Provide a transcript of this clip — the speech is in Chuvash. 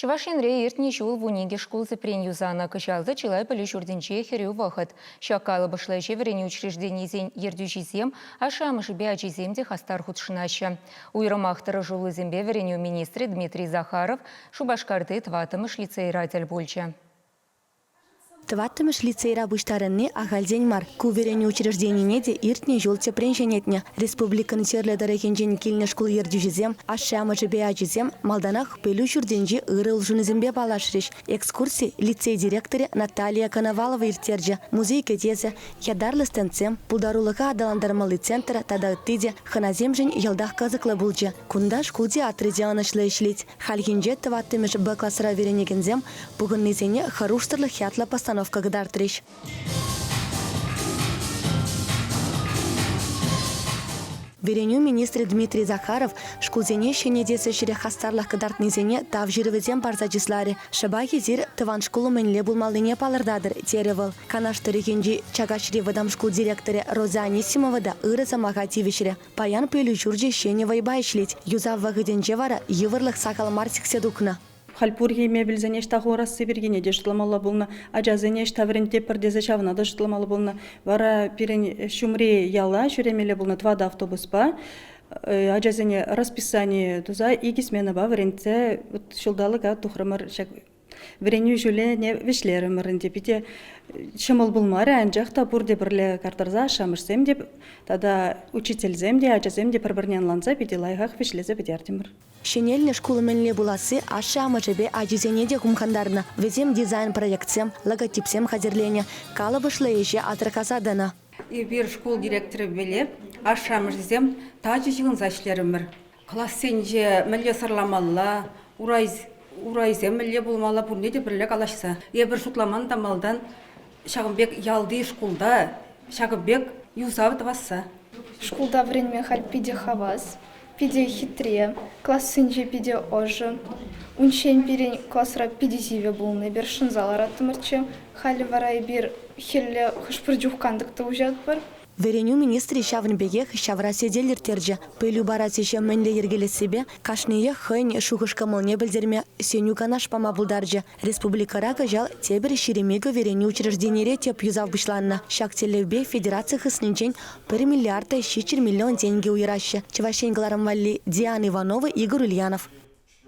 Чӑваш Енре иртнӗ ҫул вун икӗ шкул тӗпрен юсанӑ. Кӑҫалхи чылай пӗлӳ ҫуртӗнче хӗрӳ вӑхӑт. Ҫак калӑпӑшлӑ ӗҫе вӗренӳ учрежденийӗсен ертӳҫисем, ашшӗ-амӑшӗпе ачисем те хастар хутшӑнаҫҫӗ. Уйрӑмах тӑрӑшуллисемпе вӗренӳ министрӗ Дмитрий Захаров Шупашкарти тӑваттӑмӗш лицейра тӗл пулчӗ. Тӑваттӑмӗш лицейра пуҫтарӑнни ахальтен мар. Ку вӗренӳ учрежденине те иртнӗ ҫул тӗпрен ҫӗнетнӗ. Республикӑн Чирлӗ тӑрӑхӗнчен килнӗ шкул ертӳҫисем, ашшӗ-амӑшӗпе ачисем малтанах пӗлӳ ҫуртӗнчи ырӑ улшӑнусемпе паллашрӗҫ. Экскурси лицей директорӗ Наталия Коновалова ирттерчӗ. Музей кӗтесӗ, ятарлӑ стендсем, пултарулӑха аталантармалли центр тата ытти те хӑнасемшӗн йӑлтах кӑсӑклӑ пулчӗ. Кунта шкул театрӗ те ӑнӑҫлӑ ӗҫлет. Хальхинче тӑваттӑмӗшӗ-Б класра вӗренекенсем пухӑннисене Хӑрушсӑрлӑх ятлӑ постановка кӑтартрӗҫ. Вӗренӳ министрӗ Дмитрий Захаров шкулсене ҫӗнетес ӗҫре хастарлӑх кӑтартнисене тав ҫырӑвӗсем парса чысларӗ. Шӑпах эсир тӑван шкул умӗнле пулмаллине палӑртатӑр, терӗ вӑл. Канаш тӑрӑхӗнчи Чакаҫри вӑтам шкул директорӗ Роза Анисимова та ырӑ сӑмаха тивӗҫрӗ. Паян пӗлӳ ҫурчӗ ҫӗнӗ вӑйпа ӗҫлет. Юсав вӑхӑтӗнче вара йывӑрлӑх сахал мар сиксе тухнӑ. Халь пурхи мебельсене ӑҫта хурасси пиркине те шутламалла пулнӑ, ачасене ӑҫта вӗрентеппӗр тесе ҫавна та шутламалла пулнӑ. Вара пирӗн ҫумри яла ҫӳремелле пулнӑ тӑватӑ автобуспа ачасене расписани туса икӗ сменӑпа вӗрентсе ҫулталӑка тухрӑмӑр ҫак Вӗренӳ ҫулӗне вӗҫлерӗмӗр ӗнтӗ. Питӗ ҫӑмӑл пулмарӗ, анчах та пурте пӗрле картарса ашшӗ-амӑшсем те тата учительсем те, ачасем те пӗр-пӗрне ӑнланса питӗ лайӑхах вӗҫлесе пӗтертӗмӗр. Ҫӗнелнӗ шкул мӗнле пуласси ашшӗ-амӑшӗпе ачисене те хумхантарнӑ. Вӗсем дизайн-проектсем, логотипсем хатӗрленӗ, калӑпӑшлӑ ӗҫе асӑрхаса тӑнӑ. Эпир шкул директорӗпеле ашшӗ-амӑшӗсем тачӑ ҫыхӑнса ӗҫлерӗмӗр. Классенче мӗнле сӑрламалла, урайсем мӗнле пулмалла пурне те пӗрле калаҫса. Эпир шутламан та малтан ҫакӑн пек ялти шкулта ҫакӑн пек юсав тӑвасса. Шкулта вӗренме халь питӗ хавас, питӗ хитре, классенче питӗ ӑшӑ. Унччен пирӗн класра питӗ сивӗ пулнӑ, эпир шӑнса лараттӑмӑрччӗ. Халӗ вара эпир хӗлле хӑш-пӗр чух кантӑк та уҫатпӑр. Вӗренӳ министрӗ ҫавӑн пекех ҫавра сӗтел ирттерчӗ. Пӗлӳ парас ӗҫе мӗнле йӗркелессипе кашниех хӑйӗн шухӑш-кӑмӑлне пӗлтерме сӗнӳ-канаш пама пултарчӗ. Республикӑра кӑҫал тепӗр ҫирӗмикӗ вӗренӳ учрежденире тӗп юсав пуҫланнӑ. Ҫак тӗллевпе федераци хыснинчен пӗр миллиарда ҫиччӗр миллион тенкӗ уйӑраҫҫӗ. Чӑваш Ен кӑларӑм валли Диана Иванова, Игорь Ульянов.